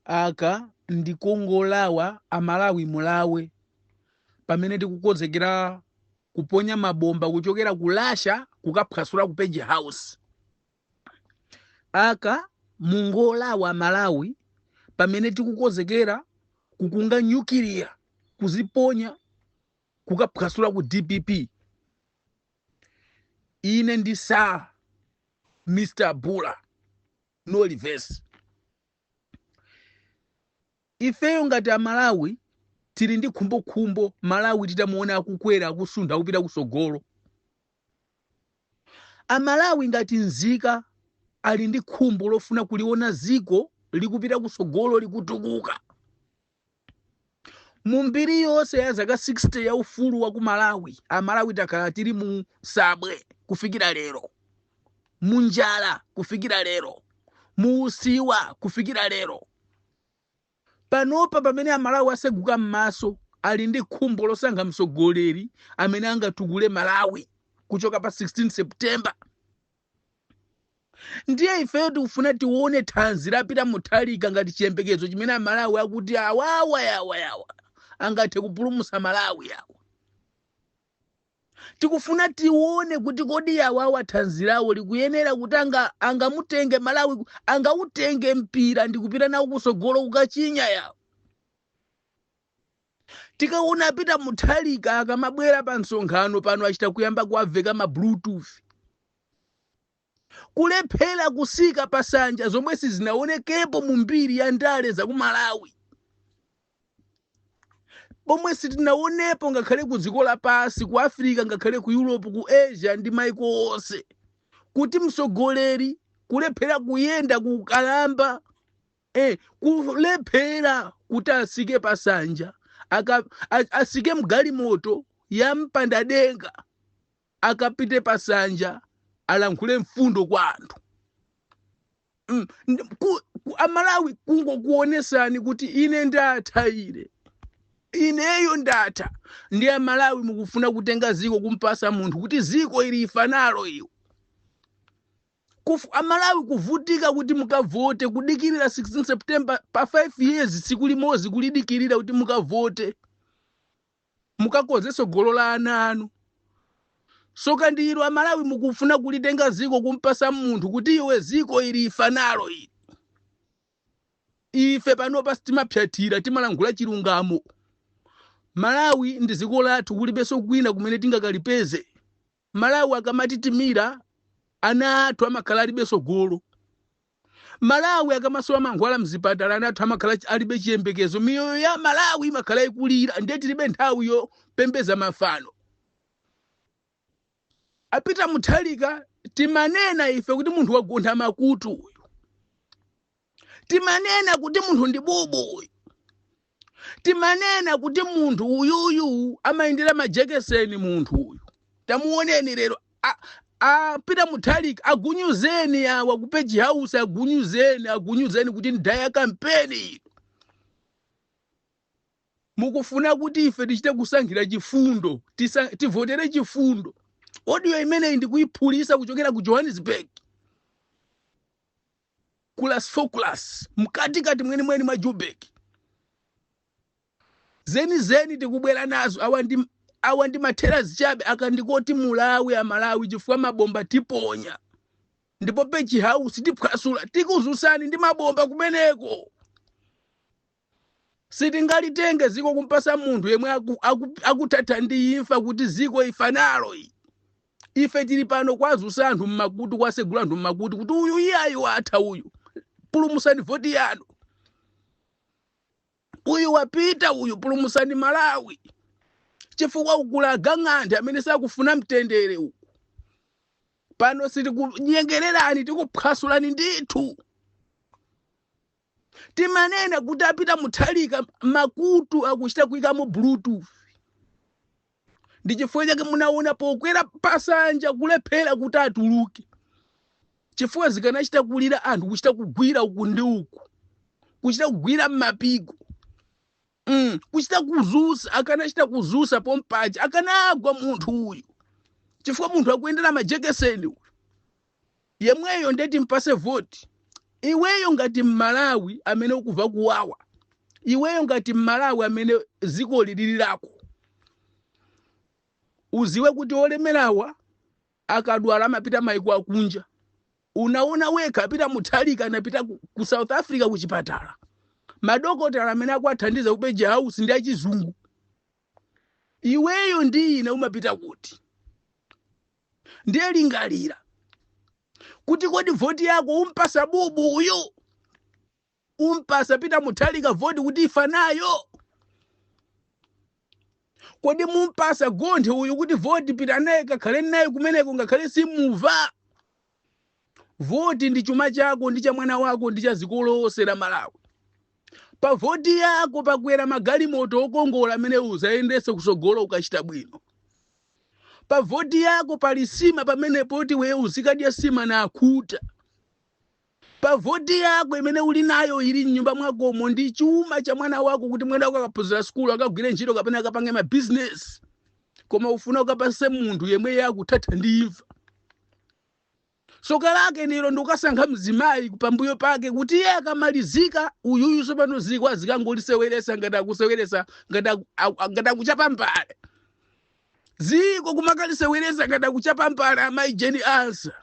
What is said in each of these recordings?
aka ndikongolawa amalawi mulawe pamene tikukonzekera kuponya mabomba kuchokera ku russia kukaphwasula ku page house aka mungolawa amalawi pamene tikukonzekera kukunga nyukiliya kuziponya kukaphwasula ku dpp ine ndi sir mr bula no reverse ifeyo ngati amalawi tili ndi khumbokhumbo malawi titamuona akukwera akusuntha akupita kusogolo amalawi ngati nzika ali ndi khumbo lofuna kuliona ziko likupita kusogolo likutukuka mu mbiri yonse ya zaka 60 ya ufulu wa ku malawi amalawi takhala tili mu sabwe kufikira lero mu njala kufikira lero mu usiwa kufikira lero panopa pamene amalawi aseguka m'maso ali ndi khumbo losankha mtsogoleri amene angatukule malawi kuchoka pa 16 september ndiye ifeyo tikufuna tione thanzi la peter mutharika ngati chiyembekezo chimene amalawi akuti awawa yawa yawa angathe kupulumutsa malawi yawa tikufuna tione kuti kodi yawawa thanzi lawo likuyenera kuti anga- angamutenge malawi ku- angautenge mpira ndikupita nawo kusogolo kukachinya yawa tikaona a peter mutharika akamabwera pa msonkhano pano achita kuyamba kuwaveka ma bluetooth kulephera kusika pasanja zomwe sizinaonekepo mu mbiri ya ndale za ku malawi pomwe sitinaonepo ngakhale ku dziko lapansi ku africa ngakhale ku europe ku asia ndi maiko onse kuti mtsogoleri kulephera kuyenda kukalamba e Kulephera kuti asike pasanja, aka, a, asike mgalimoto ya mpandadenga akapite pasanja alankhule mfundo kwa anthu Mm, ndi- ku- ku- amalawi kungokuonesani kuti ine ndatha ine ineyo ndatha ndiye amalawi mukufuna kutenga ziko kumpasa munthu kuti ziko ili ifa nalo iwe amalawi kuvutika kuti mukavote kudikirira 16 September pa 5 years tsiku limodzi kulidikirira kuti mukavote mukakonze tsogolo la ana anu soka ndi ilo amalawi mukufuna kulitenga ziko kumpasa munthu kuti iwe ziko ili ifa nalo ili ife panopa timaphyatira timalankhula chilungamo malawi ndi ziko lathu kulibenso kwina kumene tingakalipeze Amalawi akamatitimira ana athu amakhala alibe sogolo. Amalawi akamasowa mankhwala mzipatala ana athu amakhala ch- alibe chiyembekezo. Miyoyo ya Amalawi imakhala ikulira ndiye tilibe nthawi yopembeza mafano. A Peter Mutharika timanena ife kuti munthu wagontha makutu uyu. timanena kuti munthu ndi bubu uyu timanena kuti munthu uyuyu amayendera majekeseni munthu uyu tamuoneni lero a- a Peter Mutharika agunyuzeni awa ku Page House agunyuzeni agunyuzeni kuti ndayamba kampeni ino mukufuna kuti ife tichite kusankhira chifundo tisa, tivotere chifundo audio imeneyi ndikuyiphulisa kuchokera ku Johannesburg ku Braamfontein class mkatikati mwenimweni mwa Joburg zenizeni tikubwera nazo awa ndi awa ndi ma teaser chabe aka ndikoti mulawe amalawi chifukwa mabomba tiponya ndipo Page House tiphwasula tikuzusani ndi mabomba kumeneko Sitingalitenge ziko kumpasa munthu yemwe aku, aku, akuthatha ndi imfa kuti ziko ifa nalo iyayi. Ife tili pano kwazusa anthu mmakutu kwasegula anthu mmakutu kuti uyu iyayi watha uyu. Pulumusani voti yanu. Uyu wapita uyu pulumusani Malawi. Chifukwa uku kuli agang'anthe amene sakufuna mtendere uku. Pano sitikunyengererani tikuphwasulani ndithu. timanena kuti a Peter Mutharika makutu akuchita kuyikamo bluetooth ndi chifukwa chake munaona pokwera pasanja kulephera kuti atuluke chifukwa zikanachita kulira anthu kuchita kugwira uku ndi uku kuchita kugwira m'mapiko mm, kuchita kuzusa akanachita kuzuka pompaja akanagwa munthu uyu chifukwa munthu akuyendera majekeseni uyu yemweyo ndiye timpase voti iweyo ngati mmalawi amene ukuva kuwawa iweyo ngati mmalawi amene ziko ili lili lako uziwe kuti olemerawa akadwala amapita maiko akunja Unaona wekha Peter Mutharika anapita ku, ku South Africa ku chipatala. Madokotala amene akuwathandiza ku Page House ndi achizungu. Iweyo ndi ine umapita kuti? Ndiye lingalira kuti kodi voti yako umupasa bubu uyu? umpasa peter mutharika voti kuti ifa nayo kodi mumpasa gonthe uyu kuti voti pita naye kakhale naye kumeneko ngakhale simuva voti ndi chuma chako ndi cha mwana wako ndi cha dziko lonse la malawi pa voti yako pakwera magalimoto okongola amene uzayendese kusogolo ukachita bwino pa voti yako pali sima pamene poti wewe uzikadya sima na akhuta Pa voti yako imene uli nayo ili m'nyumba mwakomo ndi chuma cha mwana wako kuti mwana wako akaphunzira sukulu, akagwire ntchito kapena akapange mabizinesi. Koma ufuna ukapase munthu yemwe iye akuthatha ndi imfa. Tsoka lake nilo ndikukasankha mzimayi pambuyo pake kuti iye akamalizika uyuyu tsopano ziko azikangoliseweresa ngati akuseweresa ngati aku- aku- aku- ngati akuchapa mbale. Ziko kumakaliseweresa ngati akuchapa mbale amayi Jane Ansah.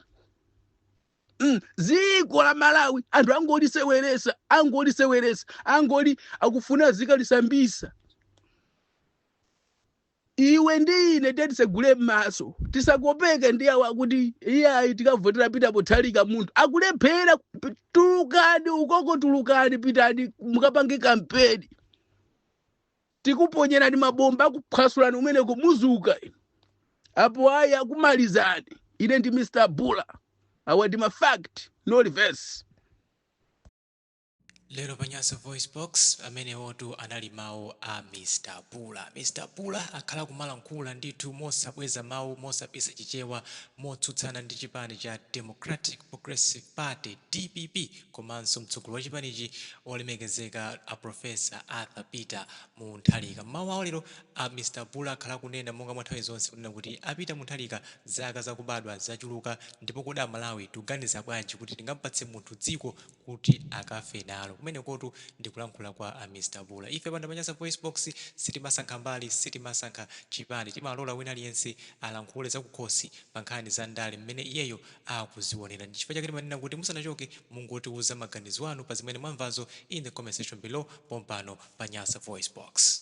mm, ziko la malawi anthu angoliseweresa angoliseweresa angoli akufuna azikalisambisa iwe ndi ine tiyeni tisegule m'maso tisakopeke ndi awa akuti iyayi tikavotera peter mutharika munthu akulephera p- tulukani ukoko tulukani pitani mukapange kampeni tikuponyerani mabomba akuphwasulani kumeneko muzuka inu apo ayi akumalizani ine ndi mr bule awa ndi ma fact no reverse lero pa nyasa voice box amenewotu anali mawu a mr bule mr bule akhala kumalankhula ndithu mosabweza mawu mosabisa chichewa motsutsana ndi chipani cha democratic progressive party dpp komanso mtsogoleri wa chipanichi olemekezeka a Professor Arthur Peter Mutharika. M'mawu awo lero a Mr Bule akhala akunena monga mwa nthawi zonse kunena kuti a Peter Mutharika zaka zakubadwa zachuluka ndipo kodi a Malawi tikuganiza bwanji kuti tingampatse munthu dziko kuti akafe nalo? Kumenekotu ndi kulankhula kwa Mr Bule. Ife pano pa Nyasa VoiceBox sitimasankha mbali, sitimasankha chipani, timalola wina aliyense alankhule zakukhosi pa nkhani za ndale m'mene iyeyo akuzionera. Ndichifukwa chake timanena kuti musanachoke mungotiuza maganizo anu pa zimene mwamvazo in the comment section below pompano pa Nyasa VoiceBox.